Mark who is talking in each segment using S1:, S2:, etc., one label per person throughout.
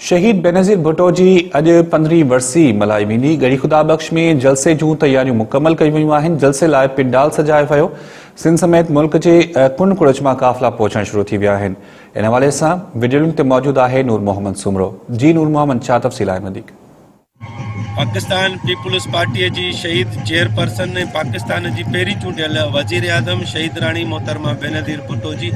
S1: شهيد بينظير ڀٽو جي اڄ پندرهين ورسي ملهائي ويندي، ڳڙهي خدا بخش ۾ جلسي جون تياريون مڪمل ڪيون ويون آهن، جلسي لاء پنڊال سجايو ويو، سنڌ سميت ملڪ جي ڪنڊ ڪڙڇ مان قافلا پهچڻ شروع ٿي ويا آهن، ان حوالي سان وڊيو لنڪ تي موجود آهي نور محمد سومرو. جي نور محمد ڇا تفصيل آهن وڌيڪ.
S2: پاڪستان پيپلز پارٽيء جي شهيد چيئرپرسن ۽ پاڪستان جي پهرين چونڊيل وزيراعظم شهيد راڻي محترمه بينظير ڀٽو جي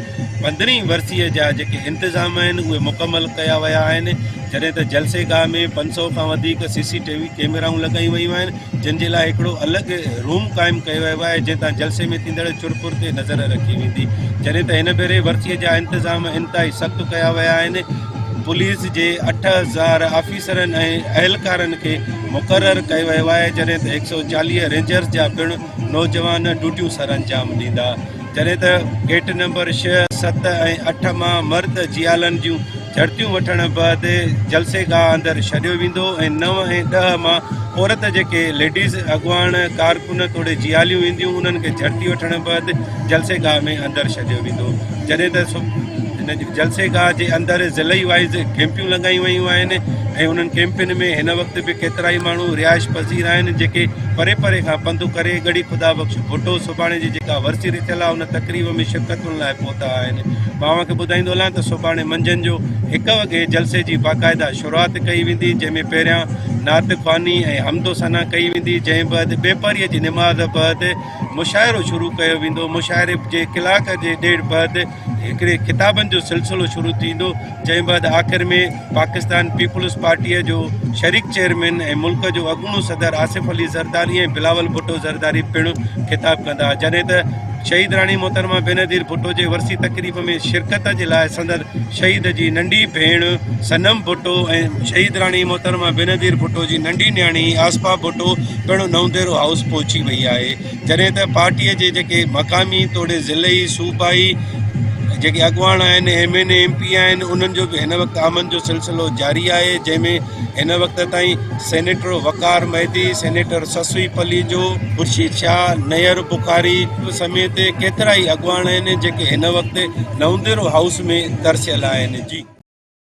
S2: پندرهين ورسيء جا جيڪي انتظام آهن اهي مڪمل ڪيا ويا آهن جڏهن ته جلسي گاهه ۾ پنج سؤ کان وڌيڪ سي سي ٽي وي ڪيميرائون لڳايون ويون آهن جن جي لاء هڪڙو الڳ روم قائم ڪيو ويو آهي جنهن تان جلسي ۾ ٿيندڙ چر پھر تي نظر رکي ويندي جڏهن ته هن ڀيري ورسيء جا انتظام انتهائي سخت ڪيا ويا آهن پوليس جي اٺ هزار آفيسرن ۽ اهلڪارن کي مقرر ڪيو ويو آهي جڏهن ته هڪ سؤ چاليهه رينجرز جا پڻ نوجوان ڊيوٽيون سرانجام ڏيندا جڏهن ته گيٽ نمبر ڇهه، ست ۽ اٺ مان مرد جيالن جون جهڙتيون وٺڻ بعد جلسي گاهه اندر ڇڏيو ويندو ۽ نو ۽ ڏهه مان عورت جيڪي ليڊيز اڳواڻ ڪارڪن توڙي جياليون اينديون انهن کي جهڙتي وٺڻ بعد جلسي گاهه ۾ اندر ڇڏيو ويندو. جڏهن ته هن جلسي گاهه جي اندر ضلعي وائيز ڪيمپيون لڳايون ويون آهن ۽ انهن ڪيمپين ۾ هن وقت به ڪيترائي ماڻهو رهائش پذير آهن جيڪي پري پري کان پنڌ ڪري ڳڙهي خدا بخش ڀٽو سوڀاڻي جي جيڪا ورسي رٿيل آهي ان تقريب ۾ شرڪتن لاء پهتا آهن مان اوهان کي ٻڌائيندو هلان ته سوڀاڻي منجهند جو هڪ وڳي جلسي جي باقاعده شروعات ڪئي ويندي جنهن ۾ پهريان نعت خواني ۽ حمد و ثنا ڪئي ويندي جنهن بعد ٻيپهري جي نماز بعد مشاعرو شروع ڪيو ويندو مشاعري جي ڪلاڪ جي ڏيڍ بعد هڪڙي خطابن جو سلسلو شروع ٿيندو جنهن بعد آخر ۾ پاڪستان پيپلز پارٽي جو شريڪ چيئرمين ۽ ملڪ جو اڳوڻو صدر آصف علي زرداري ۽ بلاول ڀٽو زرداري پڻ خطاب ڪندا جڏهن ته شهيد راڻي محترمه بينظير ڀٽو جي ورسي تقريب ۾ شرڪت جي لاء سندن شھيد جي ننڍي ڀيڻ صنم ڀٽو ۽ شھيدراڻي محترمه بينظير ڀٽو جي ننڍي نياڻي آصفا ڀٽو پڻ نونديرو ھائوس پھچي وئي آھي جڏھن ته پارٽي جي جيڪي مقامي توڙي ضلعي صوبائي جيڪي اڳواڻ آھن M N A M P آھن انھن جو به ھن وقت آمد جو سلسلو جاري آھي جنھن ۾ ھن وقت تائين سينيٽر وقار مھدي سينيٽر سسوي پليجو خورشيد شاھ نيئر بخاري سميت ڪيترائي اڳواڻ آهن جيڪي هن وقت نونديرو هائوس ۾ ترسيل آهن.